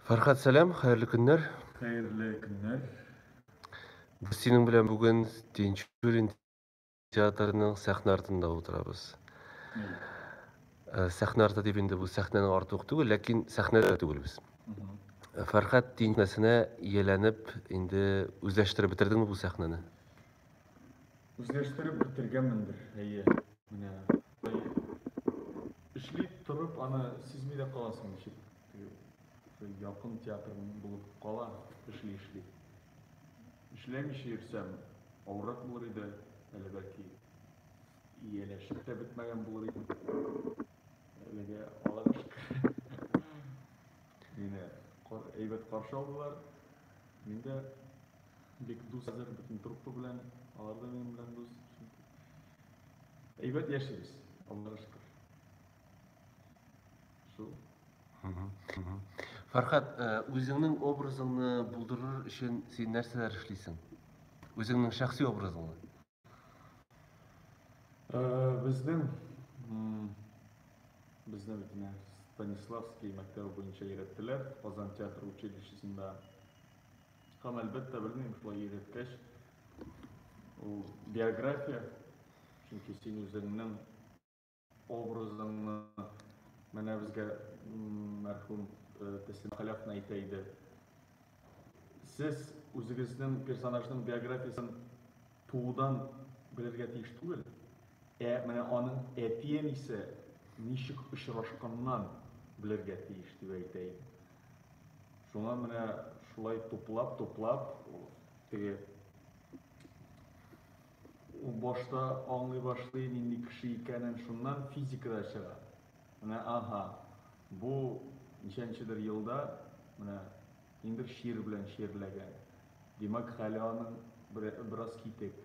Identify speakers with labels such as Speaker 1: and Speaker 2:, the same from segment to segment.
Speaker 1: Фәрхәт, сәлам, хәерле көннәр. Хәерле көннәр. Без синең белән бүген Тинчурин театрының сәхнә артында утырабыз.
Speaker 2: Э,
Speaker 1: сәхнә арты дип инде бу сәхнәнең арты ук түгел, ләкин сәхнә дә түгел без. Фәрхәт Тинчуринәсенә ияләнеп инде үзләштереп бетердеңме бу сәхнәне? Үзләштереп
Speaker 2: бетергәнмендер, әйе. Менә эшли торып аны сизми дә каласың ничек якын театр булып кала эшли эшли эшләмичә йөрсәм авыррак булыр иде әле бәлки ияләшеп тә бетмәгән булыр иде әлегә аллага шөкер Мине әйбәт каршы алдылар. Мин дә бик дус хәзер бөтен труппа белән, алар да минем белән дус. Әйбәт яшибез, Аллага шөкер. Шул.
Speaker 1: Фархат, э, үзеңнең образыңны булдырыр өчен син нәрсәләр эшлисең? Үзеңнең шәхси образыңны? Э, безнең
Speaker 2: безне бит менә Станиславский мәктәбе буенча өйрәттеләр, Казан театр училищесында. Һәм әлбәттә белмим, шулай өйрәткәч, ул биография, чөнки син үзеңнең Образыңны менә безгә мәрхүм Тәслимә Халәфна әйтә иде. Сез үзегезнең персонажның биографиясен туудан белергә тиеш түгел, ә менә аның әти-әнисе ничек очрашканнан белергә тиеш дип әйтә иде. Шуңа менә шулай туплап-туплап теге Ул башта аңлый башлый нинди кеше икәнен шуннан физикада чыга. Менә аһа, бу ничәнчедер елда менә ниндер чир белән чирләгән. Димәк, хәле аның бераз китек.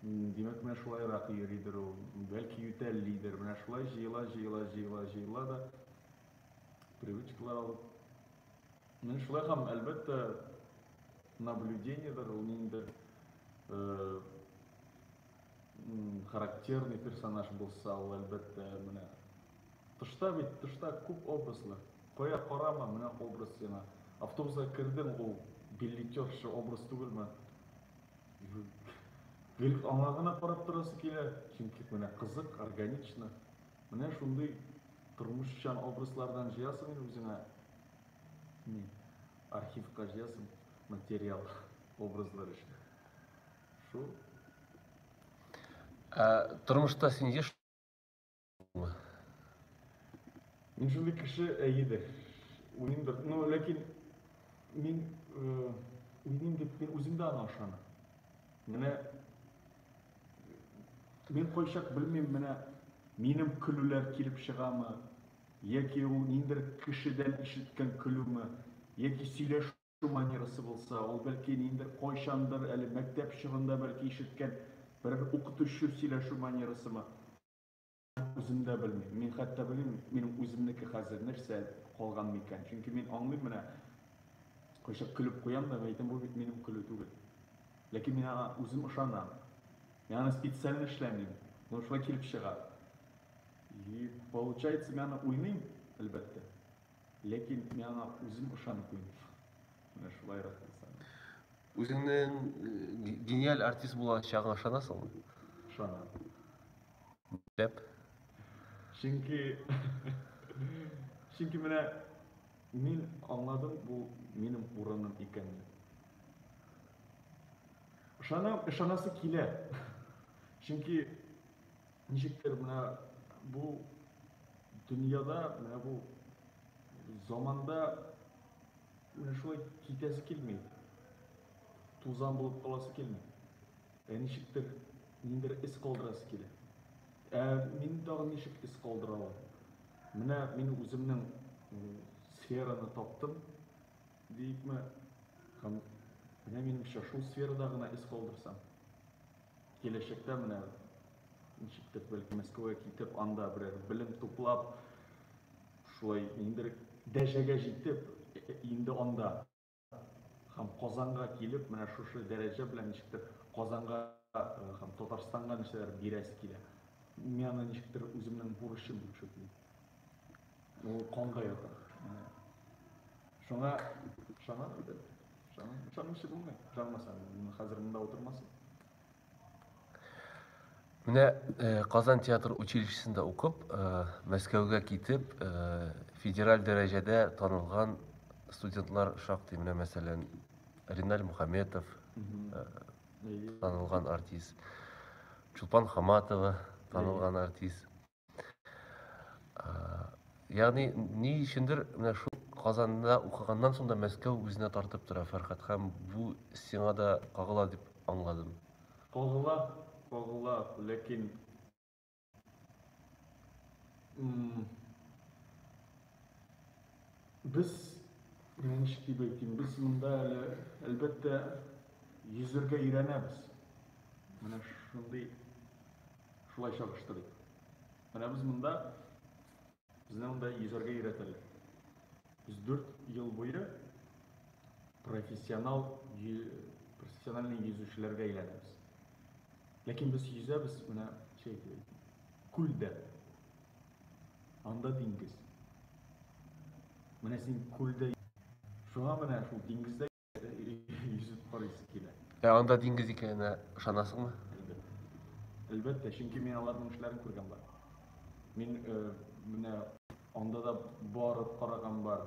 Speaker 2: Димәк, менә шулайрак йөридер ул, бәлки ютәллидер. Менә шулай җыела, җыела, җыела, җыела да привычкалар алып Менә шулай һәм әлбәттә наблюдениедер, ул ниндидер э, характерный персонаж булса, ул әлбәттә менә тышта бит, тышта күп образлар. Кая карама, менә образ сиңа. Автобуска кердең, ул билетерша образ түгелме? Гел аңа гына карап торасы килә, чөнки менә кызык, органично. Менә шундый тормышчан образлардан җыясың инде үзеңә Ни, архивка җыясың материал, образлар өчен. Шул.
Speaker 1: Ә тормышта син еш
Speaker 2: Мин шундый кеше әйеде. Уйныймдыр. Ну, ләкин мин э, уйныйм дип мин үзем дә аңа ышанам. Менә мин кайчак белмим, менә минем көлүләр килеп чыгамы, Яки ул ниндер кешедән ишеткән көлүме, яки сөйләшү манерасы булса, ул, бәлки, ниндер кайчандыр, әле мәктәп чорында, бәлки, ишеткән берәр укытучы сөйләшү манерасымы? Үзем дә белмим. Мин хәтта белмим, минем үземнеке хәзер нәрсә калган микән. Чөнки мин аңлыйм, менә кайчак көлеп куям да, мин әйтәм, бу бит минем көлү түгел. Ләкин мин аңа үзем ышанам. Мин аны специально эшләмим, но шулай килеп чыга. И получается, мин аны уйныйм, әлбәттә. Ләкин мин аңа үзем ышанып уйныйм. Менә шулайрак булса. Үзеңнең э,
Speaker 1: гениаль артист булачагыңа ышанасыңмы? Ышанам. Нишләп?
Speaker 2: Чөнки Чөнки менә мин аңладым, бу минем урыным икәнен. Ышанам, ышанасы килә. Чөнки Ничектер менә бу дөньяда, менә бу заманда менә шулай китәсе килми. Тузан булып каласы килми. Ә ничектер ниндер эз калдырасы килә. Ә мин тагын ничек эз калдыра алам? Менә мин үземнең сфераны таптым, диикме, һәм менә минемчә шул сферада гына эз калдырсам. Киләчәктә менә ничектер бәлки Мәскәүгә китеп, анда берәр белем туплап, шулай ниндер дәжәгә җитеп, инде анда һәм Казанга килеп, менә шушы дәрәҗә белән ничектер Казанга һәм Татарстанга нәрсәләр бирәсе килә. Мин аны ничектер үземнең бурычым дип шөплим. Ул конда ята. Шуңа шуңа да шуңа шуңа ше булмый. Шуңмаса, хәзер монда утырмасын.
Speaker 1: Менә э, Казан театр училищесында укып, э, Мәскәүгә китеп, э, федераль дәрәҗәдә танылган студентлар шактый, менә мәсәлән, Риналь Мухаметов, танылган артист, Чулпан Хаматова, танылган артист. Ягъни ни өчендер менә шул Казанда укыганнан соң да Мәскәү үзенә тартып тора Фәрхәт һәм бу сиңа да кагыла дип аңладым. Кагыла,
Speaker 2: кагыла, ләкин без менә ничек дип әйтим, без монда әле әлбәттә йөзергә өйрәнәбез. Менә шундый Шулай чагыштырыйк. Менә без монда, безне монда йөзәргә өйрәтәләр. Без 4 ел буе профессионал профессиональный йөзүчеләргә әйләнәбез. Ләкин без йөзәбез менә чәй күлдә. Анда диңгез. Менә син күлдә. Шуңа менә шул диңгездә Йөзеп карыйсы килә. Ә анда диңгез
Speaker 1: икәненә ышанасыңмы?
Speaker 2: Әлбәттә, чөнки мин аларның эшләрен күргән бар. Мин э, менә анда да барып караган бар.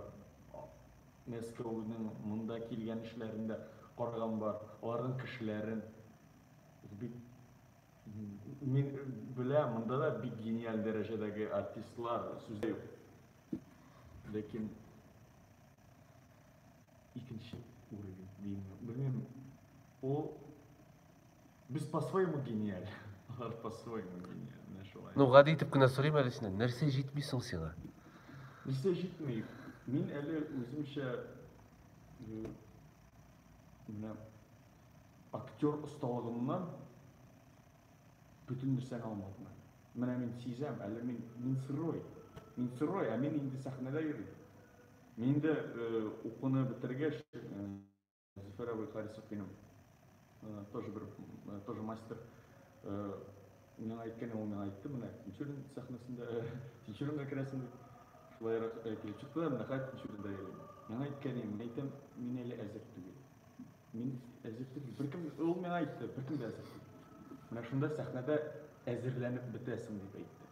Speaker 2: Мәскәүнең монда килгән эшләрен дә караган бар. Аларның кешеләрен бик мин белә, монда да бик гениаль дәрәҗәдәге артистлар сүздә юк. Ләкин Икенче уровень димме, белмим, ул без по своему гениаль, алар по своему гениаль, менә шулай. Ну, гади итеп
Speaker 1: кенә сорыйм әле синнән, нәрсә җитми соң сиңа? Нәрсә
Speaker 2: җитми? Мин әле үземчә менә актер осталыгымнан бөтен нәрсәне алмадым әле. Менә мин сизәм, әле мин мин сырой. Мин сырой, ә мин инде сәхнәдә йөрим. Мин дә укуны бетергәч, Зөфәр абый Харисов минем тоже бер тоже мастер миңа әйткәне ул миңа әйтте, менә Тинчурин сәхнәсендә, Тинчуринга керәсең дип. Шулайрак килеп чыкты да, менә хәзер Тинчуринда йөрим. Миңа әйткән иде, мин әйтәм, мин әле әзер түгел. Мин әзер түгел. Беркем ул миңа әйтте, беркем дә әзер түгел. Менә шунда сәхнәдә әзерләнеп бетәсең дип әйтте.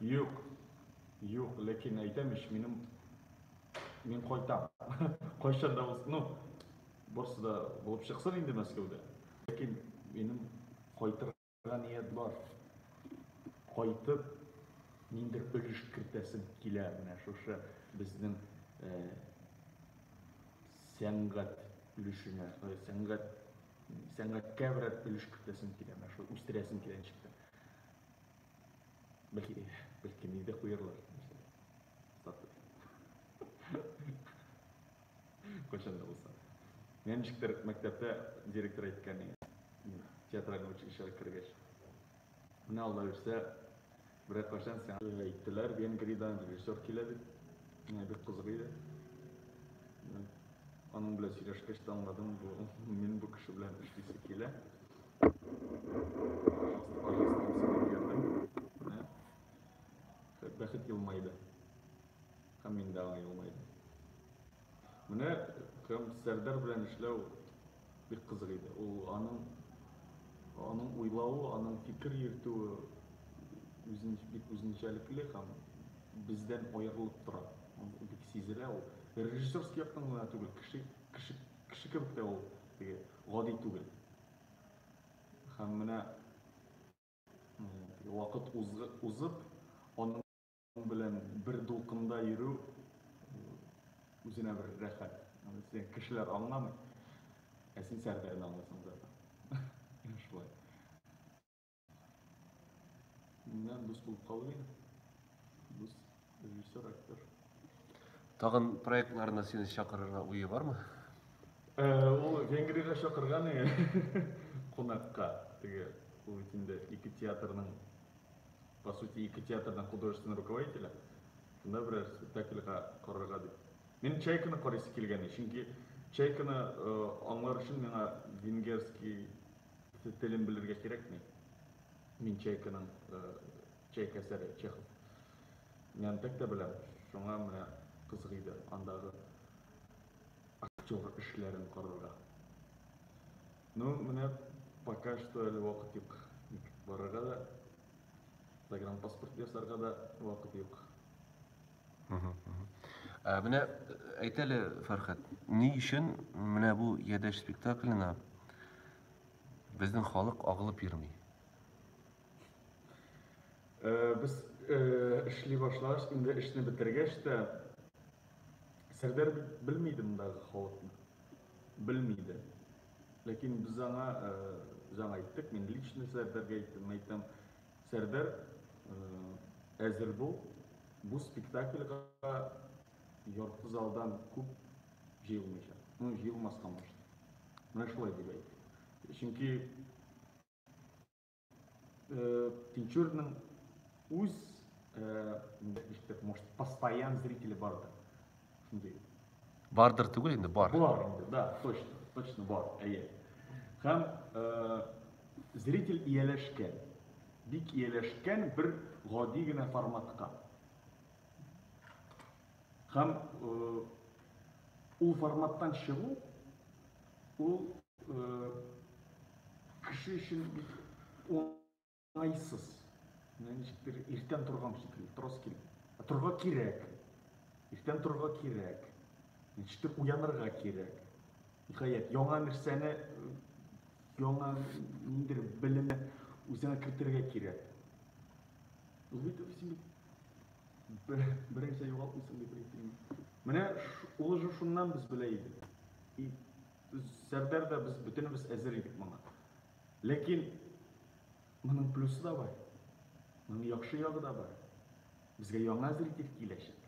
Speaker 1: Юк,
Speaker 2: юк, ләкин әйтәм ич, минем, мин кайтам. Кайчан да булсын, ну, барысы да булып чыксын инде Мәскәүдә. Ләкин минем кайтырга ният бар. Кайтып, ниндер өлеш кертәсем килә менә шушы безнең э, сәнгать өлешенә, э, сәнгать сәнгатькә берәр өлеш кертәсем килә, менә шул үстерәсем килә ничектер. Бәлки, бәлки мине дә куярлар. Статус. Кайчан да булса. Менә ничектер мәктәптә директор әйткән иде. Театральный училищега кергәч. Менә Алла бирсә, берәр кайчан сиңа әйттеләр, Венгриядән режиссер килә дип. Менә бик кызык иде. Аның белән сөйләшкәч тә аңладым, бу мин бу кеше белән эшлисе килә. бәхет елмайды һәм мин дә елмайды менә һәм сәрдәр белән эшләү бик кызык иде ул аның аның уйлавы аның фикер йөртүе үзен бик үзенчәлекле һәм бездән аерылып тора бик сизелә ул режиссерский яктан гына түгел кеше кеше кеше кебек тә ул теге Гади түгел. Һәм менә вакыт узып, аның белән бер дулкында йөрү үзенә бер рәхәт. Син кешеләр аңламый, ә син Сәрдәрне аңлыйсың да. Шулай. Менә без булып калды инде. Без режиссер,
Speaker 1: актер.
Speaker 2: Тагын
Speaker 1: проектларына сине чакырырга
Speaker 2: уе
Speaker 1: бармы? Э,
Speaker 2: ул Венгриягә чакырган иде. Кунакка. Теге ул бит инде ике театрның по сути ике театрның художественный руководителе. Шунда берәр спектакльга карарга дип. Мин Чайканы карыйсы килгән, чөнки Чайканы э, аңлар өчен миңа венгерский Телен белергә кирәкми. Мин Чайканың Чайка әсәре Чехов. Нянтәк тә беләм, шуңа менә кызык иде андагы актер эшләрен карарга. Ну, менә пока что әле вакыт юк. Барырга да, загранпаспорт ясарга да вакыт юк.
Speaker 1: Ә менә әйт әле, Фәрхәт, ни өчен менә бу Ядәш спектакленә безнең халык агылып йөрми?
Speaker 2: Э, без э, эшли башлаш, инде эшне бетергәч тә Сәрдәр белми иде мондагы халыкны. Белми иде. Ләкин без аңа, э, без аңа әйттек, мин лично Сәрдәргә әйттем, әйтәм, Сәрдәр, әзер бул, бу спектакльга ярты залдан күп җыелмыйча, ну, җыелмаска мошты. Менә шулай дип әйтте. Чөнки Тинчурның үз, может, постоянно зрители барды. Шундый. Бардыр
Speaker 1: түгел инде, бар. Бар инде, да, точно,
Speaker 2: точно бар, әйе. Һәм э, зритель ияләшкән, бик ияләшкән бер гади генә форматка. Һәм э, ул форматтан чыгу, ул э, кеше өчен Айсыз. Менә ничектер иртән торган шикелле, торасы килеп. Ә торга кирәк. Иртән торга кирәк. Ничектер уянырга кирәк. Ниһаять, яңа нәрсәне, яңа ниндер белемне үзеңә кертергә кирәк. Ул бит син бернәрсә югалтмыйсың дип әйтим. Менә ул же шуннан без белә идек. И Сәрдәр дә без бөтенебез әзер идек моңа. Ләкин моның плюсы да бар. Моның яхшы ягы да бар. Безгә яңа зритель киләчәк.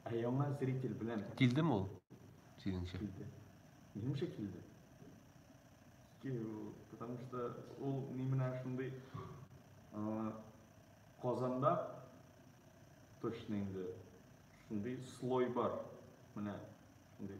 Speaker 2: Ә яңа зритель белән Килдеме ул?
Speaker 1: Синеңчә? Килде.
Speaker 2: Минемчә килде. Потому что ул ни менә шундый Казанда точно инде шундый слой бар. Менә шундый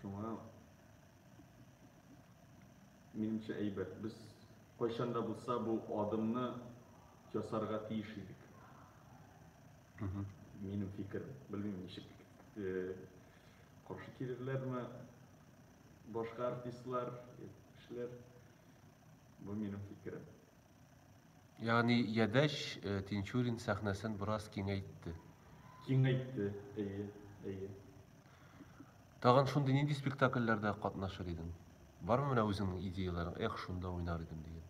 Speaker 2: Шуңа минемчә әйбәт. Без кайчан да булса бу адымны ясарга тиеш идек. Минем фикерем. Белмим ничек э, каршы килерләрме башка артистлар, кешеләр. Бу минем фикерем.
Speaker 1: Ягъни Ядәч Тинчурин сәхнәсен бераз киңәйтте. Киңәйтте,
Speaker 2: әйе, әйе.
Speaker 1: Тагын шундый нинди спектакльләрдә катнашыр идең? Бармы менә үзеңнең идеяләрең? Эх, шунда уйнар идем дигән.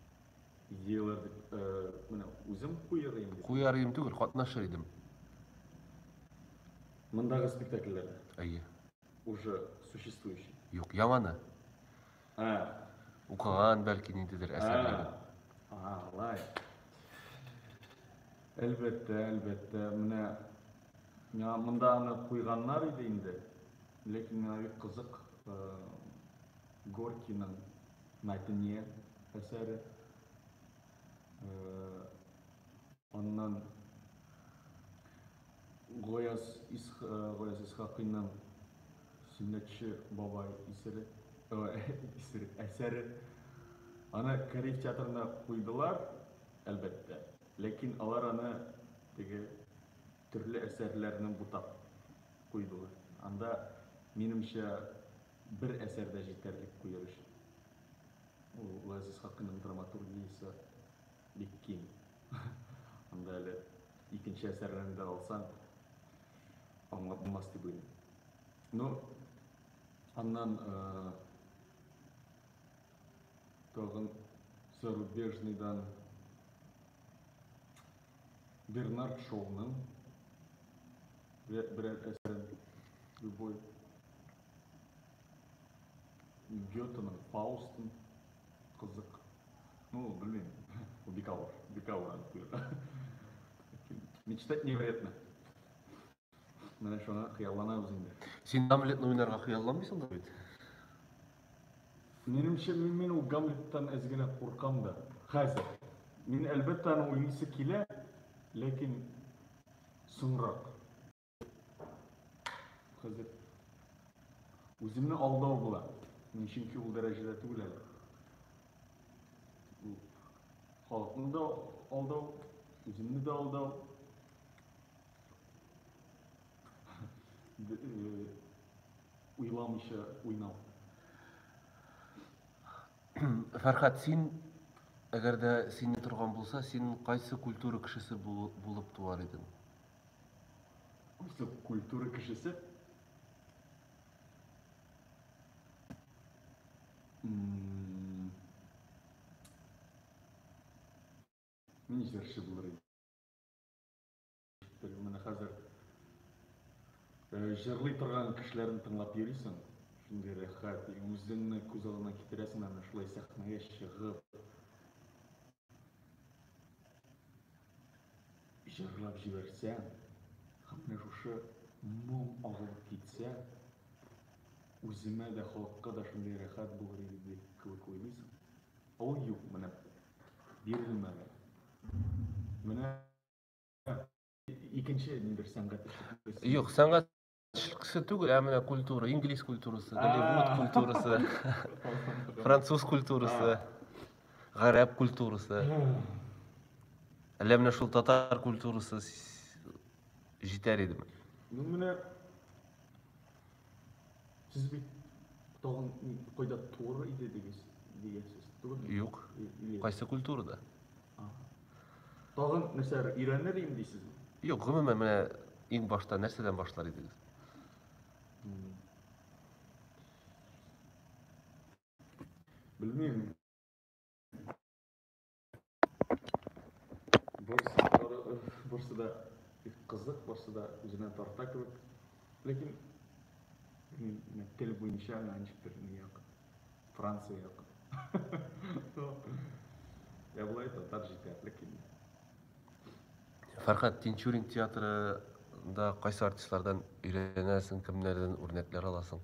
Speaker 1: Идеяләр
Speaker 2: дип, э, менә үзем куяр идем. Куяр идем түгел, катнашыр
Speaker 1: идем.
Speaker 2: Мондагы спектакльләрдә. Әйе.
Speaker 1: Уже
Speaker 2: существующий. Юк, яманы.
Speaker 1: Ә. Укыган бәлки ниндидер әсәрләре. Ага, алай.
Speaker 2: Әлбәттә, әлбәттә, менә миңа монда аны куйганнар иде инде. Ләкин миңа бик кызык э, Горкиның Мәтине әсәре. Э, аннан Гаяз Исхакыйның Сөннәтче бабай исере, исере, әсәре. Аны Кариев театрына куйдылар, әлбәттә. Ләкин алар аны теге төрле әсәрләрне бутап куйдылар. Анда, минемчә, бер әсәр дә җитәрлек куер өчен. Ул Гаяз Исхакыйның драматургиясе Бик киң. Анда әле икенче әсәрләрне дә алсаң, аңлап булмас дип уйлыйм. Ну, аннан э, тагын зарубежныйдан Бернард Шоуның берәр әсәрен любой Гетеның Фаустын Кызык. Ну, белмим. Бу бик авыр. Бик авыр аны куярга. Мечтать не вредно. Менә шуны хыялланабыз инде. Син Гамлетны уйнарга
Speaker 1: хыялланмыйсың да бит.
Speaker 2: Минемчә, мин, мин ул Гамлеттан әз генә куркам да. Хәзер. Мин, әлбәттә, аны уйныйсы килә, ләкин соңрак. Хәзер үземне алдау була. Мин чөнки ул дәрәҗәдә түгел әле. Бу халыкны да алдау, үземне дә алдау. Уйламыйча уйнау.
Speaker 1: Фәрхат, син әгәр дә сине торган булса, син кайсы культура кешесе булып туар идең? Үзе
Speaker 2: культура кешесе. Мин җырчы булыр идем. Менә хәзер җырлый торган кешеләрне тыңлап йөрисең, шундый рәхәт, үзеңне күз алдына китерәсең, әнә шулай сәхнәгә чыгып, Җырлап җибәрсә, менә шушы моң агылып китсә, үземә дә, халыкка да шундый рәхәт булыр иде дип кебек уйлыйсың. Ә ул юк, менә бирелмәде. Менә икенче ниндер сәнгать. Юк, сәнгать
Speaker 1: Тешли кеше түгел, ә менә культура, инглиз культурасы, голливуд культурасы, француз культурасы, гарәп культурасы. Әллә менә шул татар культурасы җитәр идеме? Ну менә
Speaker 2: сез бит тагын кайда туыр иде дигез, дигәсез, түгелме? Юк.
Speaker 1: Кайсы культурада? Тагын
Speaker 2: нәрсәләр өйрәнер идем дисезме? Юк, гомумән менә
Speaker 1: иң башта нәрсәдән башлар идегез?
Speaker 2: Белмим. Барсы да кызык, барсы да үзенә тарта кебек. Ләкин тел буенча ничектер Франция юк. Я былай татар җитәрлек инде.
Speaker 1: Фәрхәт Тинчурин театрында кайсы артистлардан өйрәнәсең, кемнәрдән үрнәкләр аласың?